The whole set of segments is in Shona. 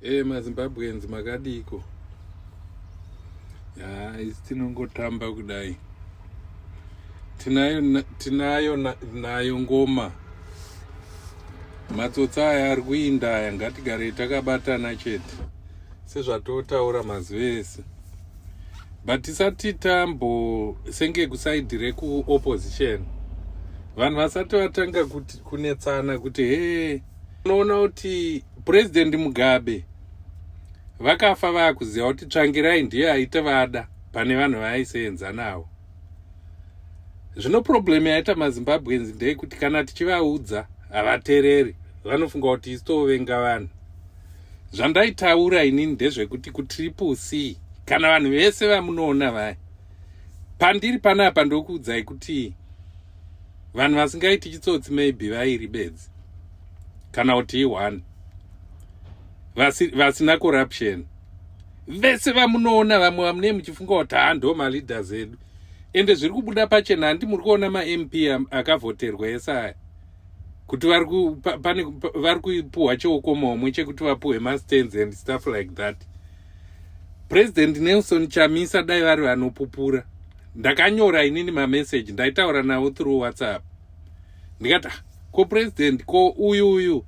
hey, eh, mazimbabweans makadiko ya isi tinongotamba kudai tinayo tinayo nayo ngoma matsotsi aya ari kuinda aya ngatigarei takabatana chete sezvatotaura mazuva ese but tisati tambo senge kusaidi rekuopposition vanhu vasati vatanga kunetsana kuti hee hey, unoona kuti president mugabe vakafa vakuziva kuti tsvangirai ndiye aita vada pane vanhu vaaisenza navo zvino problem yaita mazimbabweans ndeyekuti kana tichivaudza havatereri vanofunga kuti isi tovenga vanhu zvandaitaura inini ndezvekuti kutriple c kana vanhu vese vamunoona vaya pandiri panapa ndokuudzai kuti vanhu vasingaiti chitsotsi maybe vairi bedzi kana kuti ione vasina corruption vese vamunoona vamwe vamune muchifunga kuti haa ndo maleaders edu ende zviri kubuda pachena handi muri kuona mamp akavhoterwa ese aya kuti vari kupuhwa cheukomomwe chekuti vapuhwe mastands and stuff like that President Nelson Chamisa dai vari vanopupura ndakanyora inini mameseji ndaitaura navo through whatsapp ndikati ah, ko president ko uyu uyu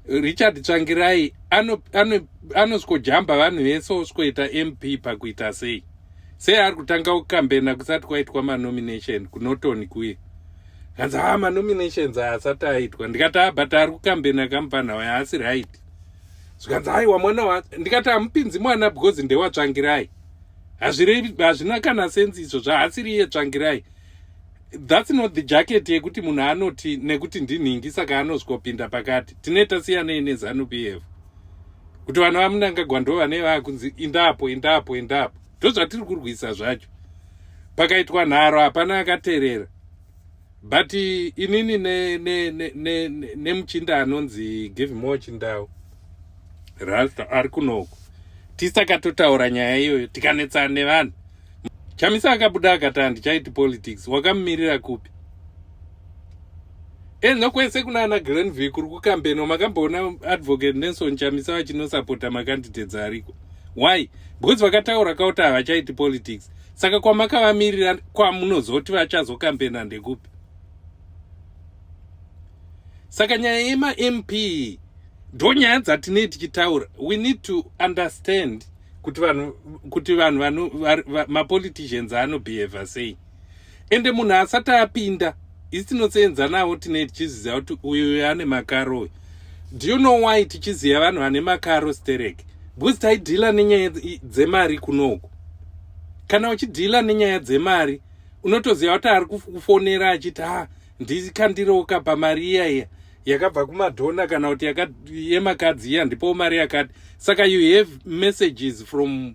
richard tsvangirai anosvikojamba ano, ano vanhu vese osvikoita mp pakuita sei sei ari kutanga kukambena kusati kwaitwa manomination kunotoni kuye kanzi ha ah, manominations haasati aitwa ndikati a ah, but ari kukambena kamupana wayo haasi right zvikanzi aiwa mwana wa ndikati hamupinzi mwana because ndewatsvangirai hazvirevi hazvina kana senzi izvo zvaasiri iye tsvangirai that's not the jacket yekuti munhu anoti nekuti ndinhingi saka anozvikopinda pakati tine tasiyanei nezanu p f kuti vana vamunangagwa ndo vane vakunzi indapo indapo indapo ndozvatiri kurwisa zvacho pakaitwa nharo hapana akaterera but inini nemuchinda ne, ne, ne, ne anonzi givemore chindau ralph ari kunoku tisakatotaura nyaya iyoyo tikanetsana nevanhu chamisa akabuda akati handichaiti politics wakamumirira kupi e nokwese kuna ana granville kuri kukambeno makamboona advocate nelson chamisa vachinosapota makandidates ariko why because vakataura kauti havachaiti politics saka kwamakavamirira kwamunozoti vachazokambena ndekupi saka nyaya yemamp ndonyaya dzatinei tichitaura we need to understand kuti vanhu kuti vanhu vano mapoliticians anobehavha sei ende munhu asati apinda isi tinoseenzanawo tine tichiziva kuti uyu uyu ane makaro uyu do you know why tichiziva vanhu vane makaro sterek because taidhila nenyaya dzemari kunoku kana uchidhila nenyaya dzemari unotoziva kuti ari kufonera achiti ha ah, ndikandiroka pamari iya iya yakabva kumadhona kana kuti yemakadzi iya ndipowo mari yakati saka you have messages from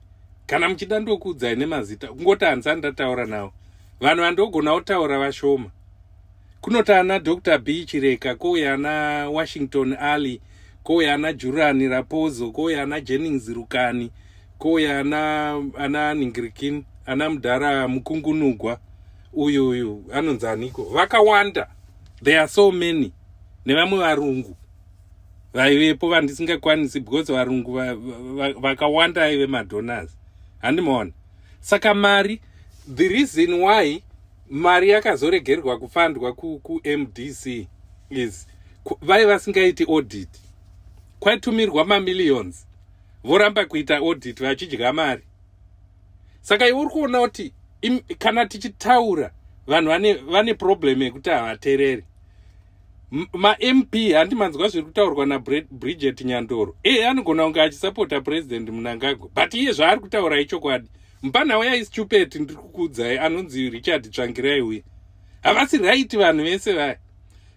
kana muchida ndokuudzai nemazita kungoti hanzi andataura nawo vanhu vandogona kutaura vashoma kunoti ana dr b chireka kouya ana washington alley kouya ana jurani rapozo kouya ana jennings rukani kouya ana ana ningirikin ana mudhara mukungunugwa uyu uyu anonzi aniko vakawanda there are so many nevamwe varungu vaivepo vandisingakwanisi because varungu vakawanda va, va, aive madonors handimaona saka mari the reason why mari yakazoregerwa kufandwa kumdc ku is vai vasingaiti audit kwaitumirwa mamillions voramba kuita audit vachidya mari saka iwe uri kuona kuti kana tichitaura vanhu vane problem yekuti havatereri mamp handi manzwa zviri kutaurwa nabridget nyandoro ee anogona kunge achisapota president munangagwa but iye zvaari kutaura ichokwadi mupanhau yaistupet ndiri kukuudzai anonzi richard tsvangirai uye havasi raiti vanhu vese vaya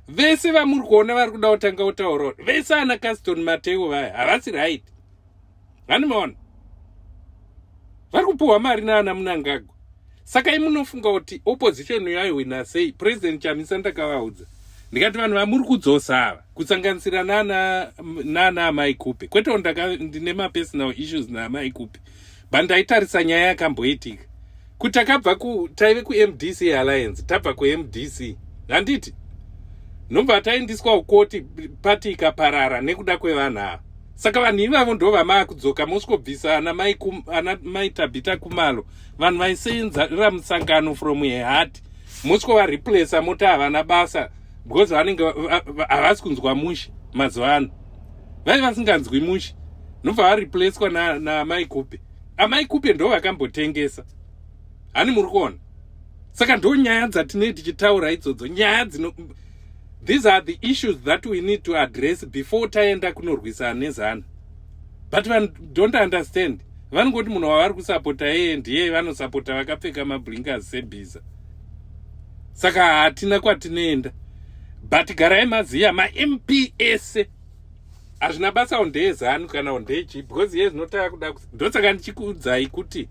vese vamuri kuona vari kuda kutanga kutaura vese ana caston mateo vaya havasi raiti hani maona vari kupiwa mari naana munangagwa saka imunofunga kuti opposition yaihwina sei president chamisa ndakavaudza ndikati vanhu vamuri kudzosa ava kusanganisira nana nana amai kupe kwete ndine mapersonal issues naamai kupe but ndaitarisa nyaya yakamboitika kuti takabva ku taive kumdc alliance tabva kumdc handiti nobva taindiswa ukoti pati ikaparara nekuda kwevanhu ava saka vanhu ivavo ndo vamaakudzoka mosvikobvisa ana mai ana mai tabhita kumalo vanhu vaiseenzara musangano from ehati mosvikovareplasa moti havana basa because vanenge havasi kunzwa mushe mazuva ano vaive vasinganzwi mushe nobva vareplacwa namai na kupi amai kupe ndo vakambotengesa hani muri kuona saka ndo nyaya dzatinei tichitaura idzodzo nyaya dzino these are the issues that we need to address before taenda kunorwisana nezana but vanhu don't understand vanongoti munhu wavari kusapota yeye ndiye vanosapota vakapfeka mablinkers sebhiza saka hatina kwatinoenda but garai maziya mamp ese hazvina basa wo ndeye zanu kana wo ndeye chii because iye zvinotava kuda ndosaka ndichikuudzai kuti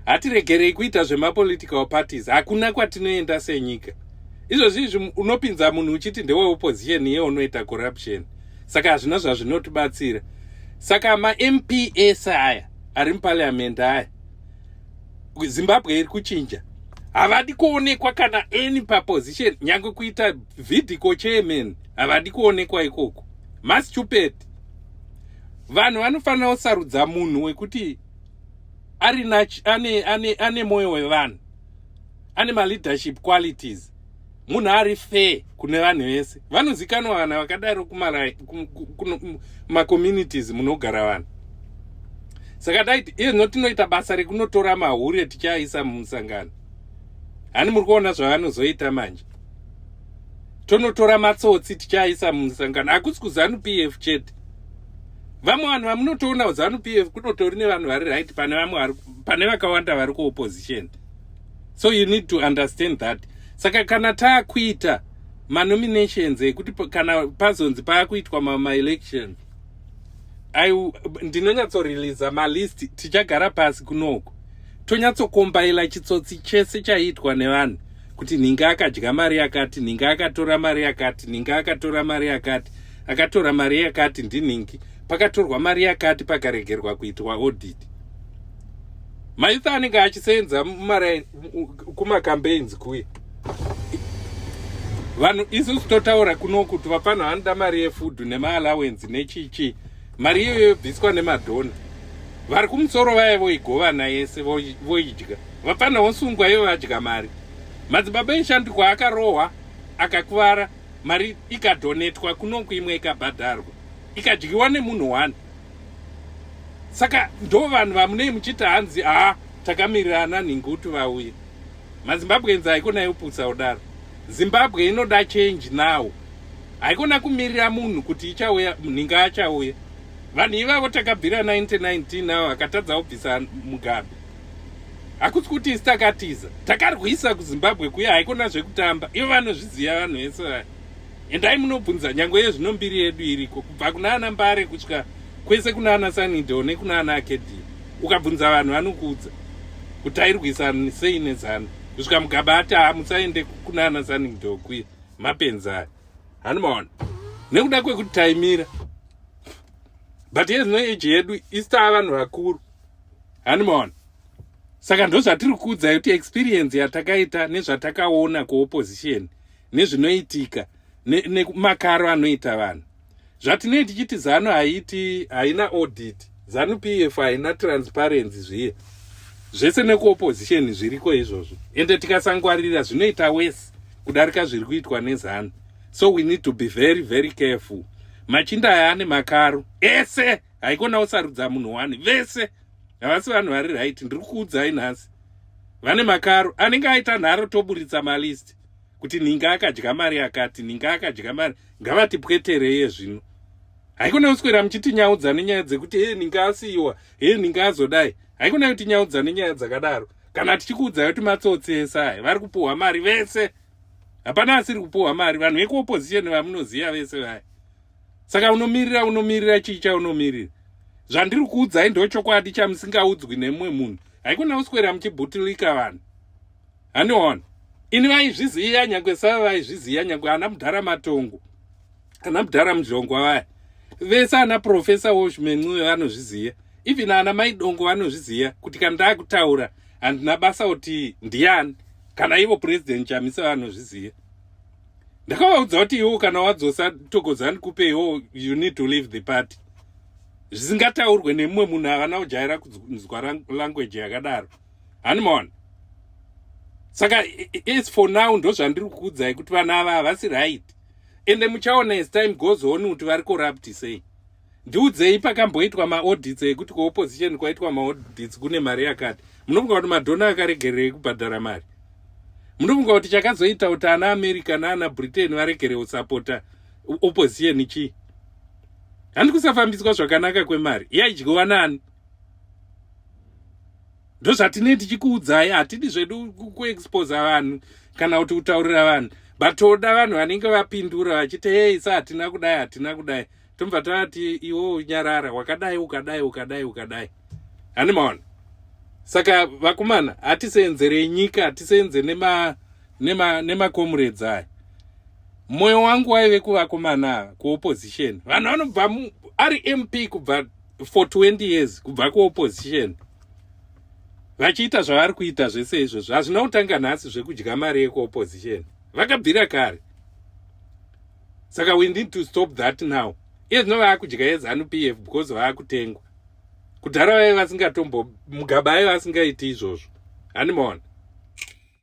hatiregerei kuita zvemapolitical parties hakuna kwatinoenda senyika izvozvi izvi unopinza munhu uchiti ndeweopposition iye unoita corruption saka hazvina zvazvinotibatsira saka mamp ese aya ari mupariamendi aya zimbabwe iri kuchinja havadi kuonekwa kana any paposition nyange kuita vidico chairman havadi kuonekwa ikoko mastupid vanhu vanofanira kusarudza munhu wekuti ari ane, ane, ane mwoyo wevanhu ane maleadership qualities munhu ari fair kune vanhu vese vanozikanwa vana vakadaro kumacommunities munogara vanhu saka daiti iyezvino tinoita basa rekunotora mahure tichiaisa mumusangano hani muri kuona zvavanozoita manje tonotora matsotsi tichaisa musangano hakusi kuzanu p f chete vamwe vanhu vamunotoona zanu p f kunotori nevanhu vari right pane vamwe pane vakawanda vari kuopposition so you need to understand that saka kana taakuita manominations ekuti kana pazonzi paakuitwa maelection ndinonyatsoreleasa malist tichagara pasi kunoko tonyatsokombaila chitsotsi chese chaiitwa nevanhu kuti ninga akadya mari yakati ninga akatora mari yakati ninga akatora mari yakati akatora mari yakati ndiningi pakatorwa mari yakati pakaregerwa kuitwa audit maitho anenge achisenza mumari kumacampaigns kuye vanhu isusu totaura kuno kuti vapano vanoda mari yefood nemaallowency nechichii mari iyoyo yobviswa nemadhona vari kumusoro vaya voigovana yese voidya vapfanha vosungwa ivo vadya mari madzibaba eshandikwa akarohwa akakuvara mari ikadhonetwa kunoku imwe ikabhadharwa ikadyiwa nemunhu one saka ndo vanhu vamunei muchiti hanzi haa takamirirana nhingi kuti vauye mazimbabwenzi haikona yoputsa kudaro zimbabwe inoda change now haikona kumirira munhu kuti ichauya nhinga achauya vanhu ivavo takabvira 1919 avo akatadza kubvisa mugabe hakusi kuti isi takatiza takarwisa kuzimbabwe kuya haikona zvekutamba ivo vanozviziva vanhu vese vaya endai munobvunza nyange ye zvino mbiri yedu iriko kubva kuna ana mbare kusvika kwese kuna ana sanido nekuna ana akedii ukabvunza vanhu vanokuudza kuti tairwisa sei nezano kusvika mugaba ati haa musaende kuna ana sanido kuya mapenzi aya hanimaona nekuda kwekuti taimira but ye zvino eji yedu isi taa vanhu vakuru handimaona saka ndozvatiri kuudzai kuti experience yatakaita nezvatakaona kuopposition nezvinoitika nemakaro ne anoita vanhu zvatinei tichiti zanu haiti haina audit zanu p f haina transparency zviye zvese nekuopposition zviriko izvozvo ende tikasangwarira zvinoita wese kudarika zviri kuitwa nezanu so we need to be very very careful machinda aya ane makaro ese haikona usarudza munhu wani vese havasi vanhu vari right ndiri kuudzai nhasi vane makaro anenge aita nharo toburitsa malist kuti ninga akadya mari yakati ninga akadya mari ngavatipwetereye zvino haikona kuswera muchitinyaudza nenyaya dzekuti he ninga asiyiwa he ninga azodai haikona kutinyaudza nenyaya dzakadaro kana tichikuudzai kuti matsotsi ese aya vari kupuhwa mari vese hapana asiri kupuhwa mari vanhu vekuopposition vamunoziva vese vaya saka unomirira unomirira chii chaunomirira zvandiri kuudzai ndochokwadi chamusingaudzwi nemumwe munhu haikona kuswera muchibutilika vanhu haniona ini vaizviziva nyange sava vaizviziva nyange ana mudhara matongo ana mudhara mudhlongwa vaya vese ana profesa woshmencuve vanozviziva even ana maidongo vanozviziva kuti kana ndaakutaura handina basa kuti ndiani kana ivo purezidendi chamisa vanozviziva ndakavaudza kuti iwo kana wadzosa togodzani kupeiwo you need to leave the party zvisingataurwe nemumwe munhu havana kujaira kunzwa language yakadaro hanimaona saka as for now ndozvandiri kukuudzai kuti vana ava havasi right ende muchaona as time goes on kuti vari corrupt sei ndiudzei pakamboitwa maodits ekuti kuopposition kwaitwa maodits kune mari yakati munofunga kuti madhona akaregererei kubhadhara mari munofunga kuti chakazoita kuti ana america naana britain varegere kusapota opposition chii handi kusafambiswa zvakanaka kwemari yaidyiwa nani ndozvatinei tichikuudzai hatidi zvedu kuexposa vanhu kana kuti kutaurira vanhu but toda vanhu vanenge vapindura vachiti hei sa hatina kudai hatina kudai tobva tati iwo unyarara wakadai ukadai ukadai ukadai hani maona saka vakomana hatiseenzere nyika hatiseenze nemakomuredzi aya mwoyo wangu waive kuvakomana kuopposition vanhu vanobva ari mp kubva for 20 years kubva kuopposition vachiita zvavari kuita zvese izvozvo hazvina kutanga nhasi zvekudya mari yekuopposition vakabvira kare saka we need to stop that now iye zvino vaakudya yezanu p f because vaakutengwa kudhara vaive vasingatombo mugaba aive asingaiti izvozvo handimaona